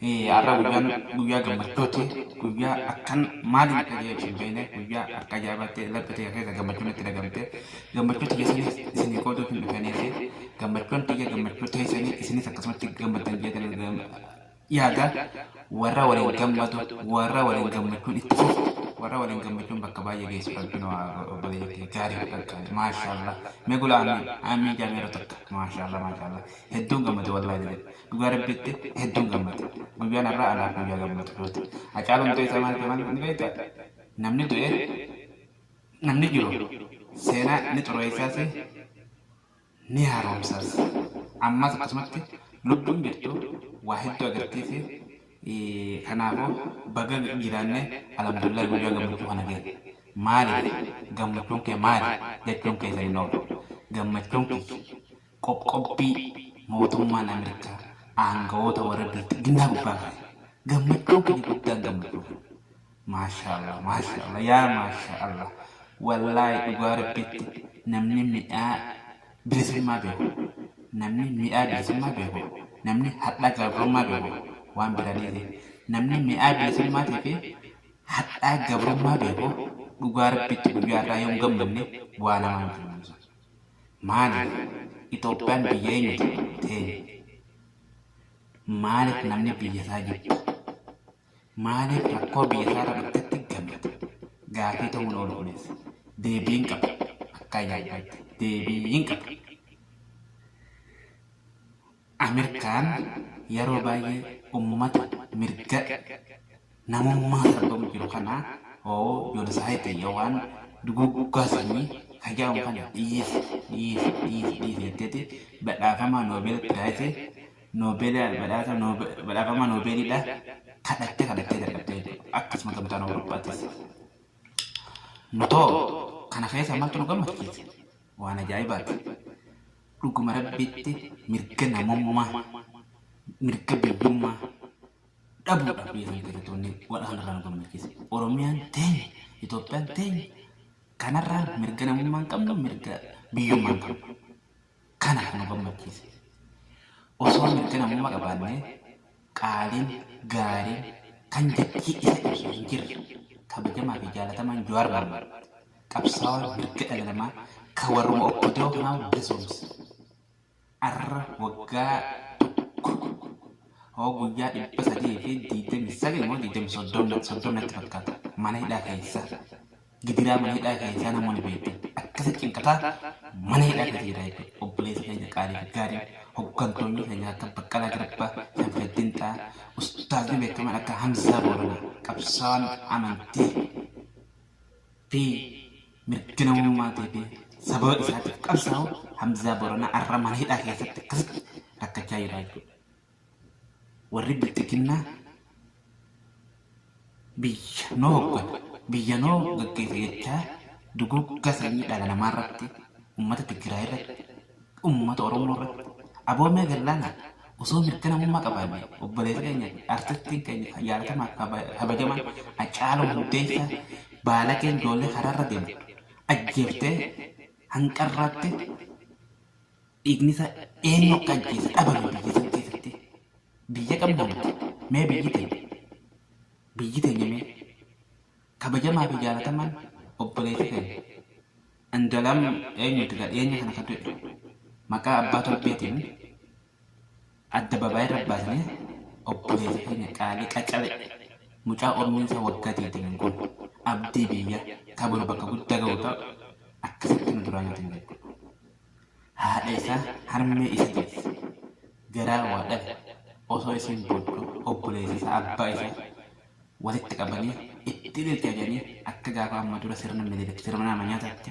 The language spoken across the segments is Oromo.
Har'a guyyaan guyyaa gammachuuti. Guyyaa akkan maaliin akka jedhee ibsu hin beekne guyyaa akka ajaa'ibaatti laphee tiyya keessa gammachuun itti dhagamte. Gammachuu tiyya saniif isinii qooduuf hin dhufeenii fi gammachuun tiyya gammachuu teessanii isinis akkasumatti gammaddan jedhan yaada. Warra waliin gammadu, warra waliin gammachuun itti fufu, warra waliin gammachuun bakka baay'ee geessu rabbiin waa obboleeyyan kiyya gaarii fi qaqqaarii. Maashaallah. Mee gula amiin. Amiin jaamee yeroo takka. Maashaallah maashaallah. Hedduun gammade wallaahi jedhe. Dhugaa rabbiitti hedduun gammade. Guyyaan har'aa anaaf guyyaa gammachuuti. Hacaaluun du'e isaa maal jedhama ni beektaa? Namni du'e namni jiru seenaa ni xureessaas ni haaromsaas. Ammas akkasumatti lubbuun jirtu waa hedduu agarsiise. Kanaafuu baga jiraannee alhamdulillah guyyaa gammachuu kana geenye. Maaliif gammachuun kee maali jechuun keessan hin oolu. Gammachuun kiyya Qoqqobbii mootummaan Ameerikaa aangawoota warra bilxiginnaa gubbaa kaaye gammachuun keenya guddaan gammachuu keenya. Maashaallah maashaallah yaa maashaallah wallaahi dhugaa rabbiitti namni mi'aa bilisummaa beeku namni mi'aa bilisummaa beeku namni hadhaa gabrummaa beeku waan biraa dhiise namni mi'aa bilisummaatii fi hadhaa gabrummaa beeku dhugaa rabbiitti guyyaa irraa yoon gammanne waa namaa miti namni sun. Maaliif Itoophiyaan biyya eenyuti teenya? Maaliif namni biyya isaa jibba? Maaliif rakkoo biyya isaa irra dhuftetti gammada? Gaafii ta'uu hin oolu kunis. Deebii hin qabu. Akka ayyaanfatti deebii hin qabu. Amerkaan yaroo baay'ee ummata mirga namummaa sarbamu jiru kana hoo Genocide yookaan duguuggaa sanyii ka jedhamu kana dhiisi dhiisi dhiisi dhiisi jetteeti badhaafamaa Nobel Prize Nobel badhaasa Nobe- badhaafamaa Nobelidha kadhattee kadhattee dadhabdee jechuudha. Akkasuma gamtaan Awurooppaattis. Nutoo kana keessa maaltu nu gammachiise? Waan ajaa'ibaati. Dhuguma Rabbiitti mirga namummaa, mirga biyyummaa dhabuudhaaf biyya sana keessatti wanni waan kana irraa nu gammachiise. Oromiyaan teenya, Itoophiyaan teenya kanarraa mirga namummaa hin qabnu, mirga biyyummaa hin qabnu. Kana kan nu gammachiise. Osoo mirga namummaa qabaannee qaaliin, gaariin, kan jechi isa ibsu hin jirre, kabajamaa fi jaalatamaan Jawaar Mohammed, qabsaawaa mirga dhala namaa ka warruma opdo kanaa bilisoomse, arra waggaa tokko hoo guyyaa 329 moo 30 natti fakkaata mana hidhaa keessa Gidiraa mana hidhaa keessaa nama wali beektan akkasi cinqataa mana hidhaa keessa jira jechuudha. Obboleessa keenya qaalii fi gaariin hoggantoonni keenya akka Baqqalaa Garbaa, Shamshaddin Xaa, ustaazni beekamaan akka Hamzaa Booranaa qabsaawaan amantii fi mirga namummaatii fi sababa isaatiif qabsaawu Hamzaa Booranaa arra mana hidhaa keessatti akkasitti rakkachaa jira jechuudha. Warri bilxiginnaa biyya noo hoggana, biyya noo gaggeessa jechaa duguuggaa sanyii dhala namaa irratti, uummata Tigraay irratti, uummata Oromoo irratti, aboo mee gallaana osoo mirga namummaa qabaanne obboleessa keenya fi artistiin keenya kan jaalatamaa fi kaba- kabajamaan Hacaaluu Hundeessaa baalageen ijoollee karaarra deemu ajjeeftee hanqarraattee Dhiigni isaa eenyu akka ajjeese dhabame biyya san keessatti. Biyya qabna nuti. Mee biyyi teenya. Biyyi teenya mee. Kabajamaa fi jaalatamaan obboleessi keenya. Andalam eenyuti ka dhiyeenya kana ka du'e. Maqaa abbaa torbeetiin adda babaayee irra baasnee obboleessi keenya qaalii qacalee mucaa umriin isaa waggaa 20 kun abdii biyya ka boru bakka guddaa ga'u ta'u akkasitti nu duraa nyaatan jedhu. Haadha isaa harmee isa deesse garaa waa dhabe osoo isiin boodduu obboleessa isaa abbaa isaa walitti qabanii itti ililcha jedhanii akka gaafa amma dura sirna minilik sirna nama nyaataatti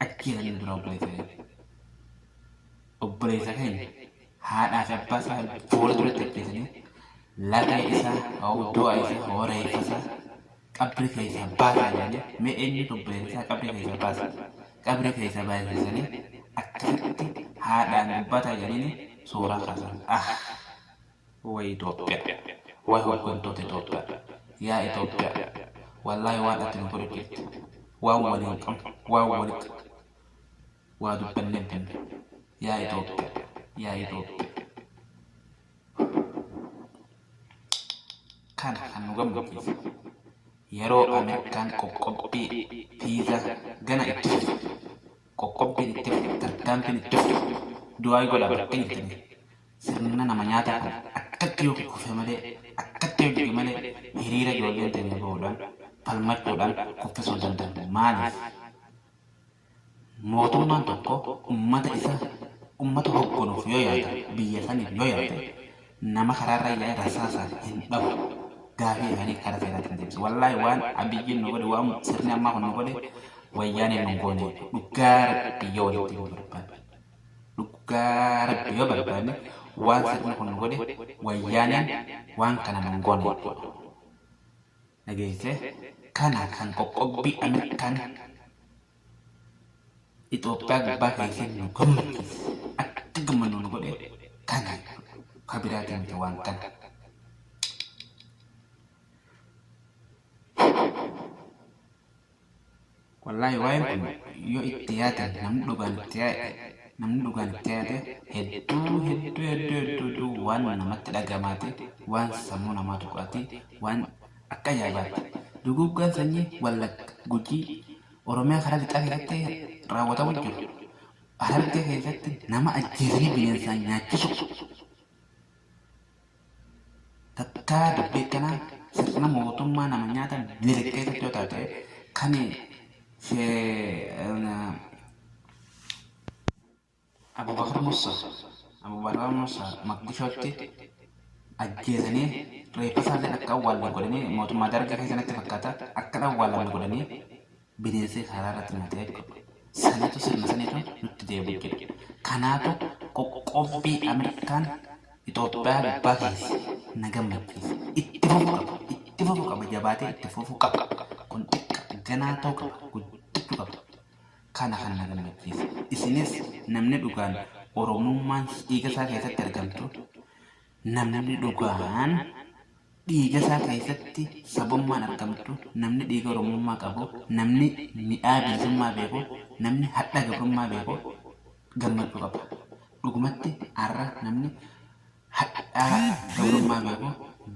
ajjeesaniin dura obboleessa keenya. Obboleessa keenya haadhaa fi abbaa isaa boola duratti ajjeesanii lafee isaa hoo du'a isaa hoo reeffa isaa qabri keessa baasaa jedhanii mee eenyu obboleessa isaa qabri keessa baasa qabri keessa baasisanii akkasitti haadhaan dubbataa jedhanii suuraa kaasan ah way Itoophiyaa way hooggantoota Itoophiyaa yaa Itoophiyaa wallaahi waan ati nu godhu jirti waan waliin qabnu waan walitti waa dubbannee binne yaa Itoophiyaa yaa Itoophiyaa Kana kan nu gammachiise yeroo Ameerikaan qoqqobbii viizaa gana itti fufte, qoqqobbiin itti fufte, tarkaanfiin itti fufte, du'aayi godhaa bakka hin jirtanii. Sirna nama nyaataa kana akkatti yoo kukkufe malee, akkatti yoo jige malee hiriira ijoolleen teenya bahuudhaan, falmachuudhaan kuffisuu hin dandeenye. Maaliif? Mootummaan tokko ummata isa ummata hogganuuf yoo yaade, biyya saniif yoo yaade, nama karaarra yaa'ee rasaasaan hin dhahu. Gaafii isaanii karaa seeraatiin deebisa. Wallaahi waan Abiyyiin nu godhe, waan sirni ammaa kun nu godhe, wayyaaneen nu hin goone jechuudha. Dhugaa rabbi yoo walitti himuu barbaanne. Dhugaa rabbi yoo barbaanne waan sirni kun nu godhe, wayyaaneen waan kana nu hin goone jechuudha. dhageessee kana kan qoqqobbii Ameerikaan Itoophiyaa gubbaa keessee nu gammachiise akka gammannu nu godhe kana ka biraatiin miti waan kana. Wallaahi waa'een kun yoo itti yaade namni dhugaan itti yaade namni dhugaan itti yaade hedduu hedduu hedduu hedduu hedduu waan namatti dhagamaati waan sammuu namaa tuqaati waan akka ajaa'ibaatti duguuggaan sanyii wallagga gujii oromiyaa karaa lixaa keessatti raawwatamu jiru harargee keessatti nama ajjeesanii bineensaan nyaachisu Takkaa dubbii akkanaa sirna mootummaa nama nyaata miliq keessatti yoo taate kan Abubakar Musa Abubakar Musa Maqdishootti ajjeesanii reeffa isaallee akka awwaalan godhanii mootummaa dargii keessatti fakkaata akka awwaalan godhanii bineensee karaa irratti nu ta'e jechuudha. Saniitu sirna saniitu nutti deebi'u jedha. Kanaatu qoqqobbii Ameerikaan Itoophiyaa gubbaa keesse na gammachiise. Itti fufu qaba. Itti fufu qaba. Jabaatee itti fufu qaba. Kun xiqqa ganaa ta'u qaba. Guddachu qaba. Kana kan na gammachiise. Isinis namni dhugaan Oromummaan dhiiga isaa keessatti argamtu Namni dhugaan dhiigasaa keessatti sabummaan argamtu, namni dhiiga Oromummaa qabu, namni midhaa bilisummaa beeku, namni hadha gabrummaa beeku gammachuu qaba. Dhugumatti har'a namni hadhaa gabrummaa beeku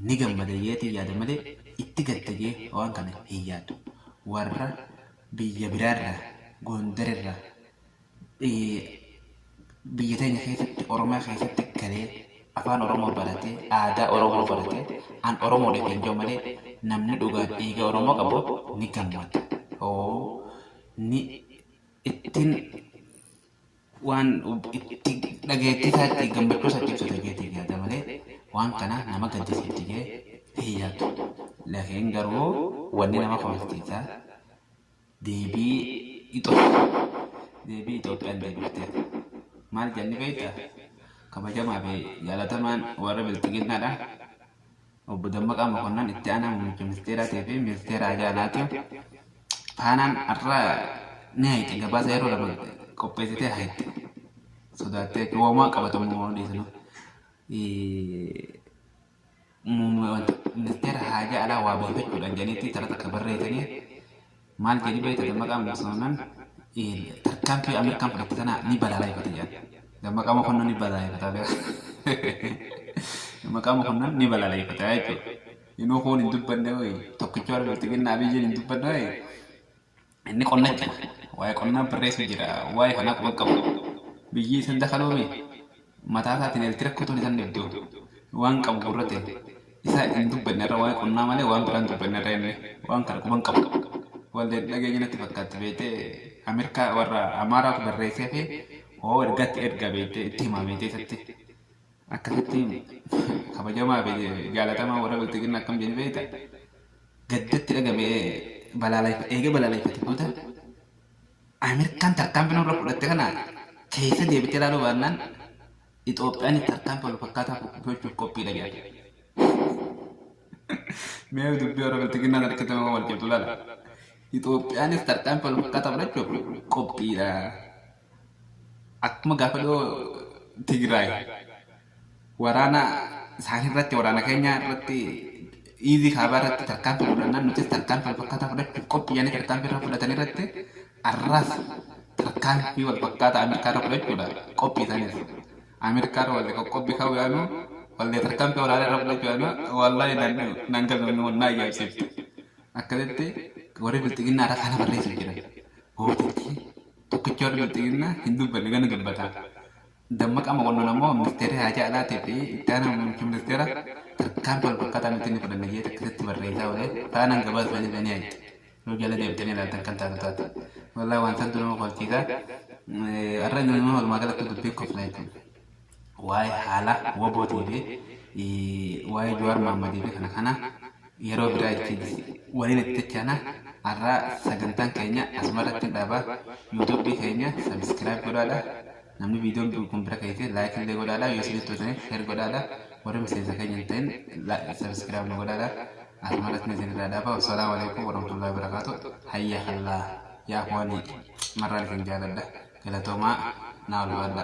ni gammada jeetiin yaada malee itti gadda jee waan kana hin yaadu. Warra biyya biraarraa, Goondarirraa, biyya teenya keessatti Oromiyaa keessatti galee afaan Oromoo baratee aadaa Oromoo baratee an Oromoo dha ittiin jiru malee namni dhugaan dhiiga Oromoo qabu ni gammada. Oo ni ittiin waan itti dhageettii isaa itti gammachuu isaa itti ibsata jeetii yaada malee waan kana nama gaddisiifti jee hin yaadu. Laakiin garuu wanni nama kofalchiisaa Deebii Itoophiyaan deebifteef maal jenne beekta? Kabajamaa fi jaalatamaan warra bilxiginnaadha. Obbo Dammaqaa Mokonnan itti aanaa muummicha ministeeraatii fi ministeera hajaa alaatiif faanaan har'a ni hayxe gabaasa yeroo lama qopheessitee hayxe. Sodaattee woomaa qabatamu odeessinu. ministeera haajaa alaa waabeeffachuudhaan jedhanitti tara takka barreessanii maal jedhi beekta dammaqaa mokonnan tarkaanfii Ameerikaan fudhatte tana ni balaaleffata jedhan. Dammaqaa mokonnan ni balaaleffata beeka. Dammaqaa mokonnan ni balaaleffata jechuudha. Inuu kun hin dubbanne hoyi tokkicha warra bilxiginnaa abiyyiin hin dubbanne hoyi Inni qonna itti fufe. Waa'ee qonnaa barreessu jira. Waa'ee kanaa quban qabu. Biyyi isan dakaloome mataa isaatiin eelti rakkotoon isan dhibdu. Waan qabu gurrate. Isaa hin dubbanne irra waa'ee qonnaa malee waan biraan dubbanne irra inni waan kana quban qabu. Walleen dhageenya natti fakkaatti beektee Ameerikaa warra Amaaraatu barreessee fi oo ergatti erga beektee itti himaa beektee isatti. Akkasitti himi. Kabajamaa fi jaalatamaa warra bilxiginna akkam jedhe beekta? Gaddatti dhagame balaaleffate, eega balaaleffate booda Ameerikaan tarkaanfii nurra fudhatte kana keessa deebitee ilaaluu baannaan Itoophiyaanis tarkaanfii wal fakkaataa fudhachuuf qophiidha jedhe. Mee dubbii warra bilxiginnaa sana keessatti nama wal cimtu ilaala. Itoophiyaanis tarkaanfii wal fakkaataa fudhachuuf qophiidha. akkuma gaafa dhiyoo Tigraay waraana isaanii irratti waraana keenya irratti iizii kaabaa irratti tarkaanfii fudhannaan nutis tarkaanfii wal fakkaataa fudhachuuf qophii yaanii tarkaanfii irra fudhatan irratti arraas tarkaanfii wal fakkaataa Ameerikaa irra fudhachuudha qophii isaaniis. Ameerikaa irra wallee qoqqobbii ka'uu yaanu wallee tarkaanfii waraanaa irra fudhachuu yaanu wallaahi naan galmamne wal naa yaabsiifte. Akkasitti warri bilxiginnaa irra kana barreessuuf jiran. Gootichi Tokkichi yoo bilxiginnaa hin dubbanne gana dubbata. Dammaqaa Mokonnon ammoo ministeerri haajaa alaatii fi itti aanaan muummichi ministeera tarkaanfii wal fakkaataa nuti ni fudhanna jeeti akkasitti barreessaa oole faanaan gabaasa isaanii irra ni argitu. Yoo jala deebitanii ilaaltan kan taatu taate. Wallaahi waan santu nama kofalchiisa. Har'a nama walumaa galattuu dubbii koflaa jechuudha. waa'ee haala wabootii fi waa'ee Jawaar Maammadii fi kana kana yeroo biraa itti waliin itti tachaana har'aa sagantaan keenya asumarratti hin dhaaba yuutuubii keenya sabiskiraayib godhaadha namni viidiyoon kun bira keessee laayik illee godhaadha yoo isinitti toltaniif sheer godhaadha warri miseensa keenya hin ta'in sabiskiraayib nu godhaadha asumarratti isin irraa dhaaba wassalaamu alaikum warahmatullahi wabarakaatu hayya kallaa yaa kuwanii cimarraan isin jaaladha galatoomaa naa ulfaadha.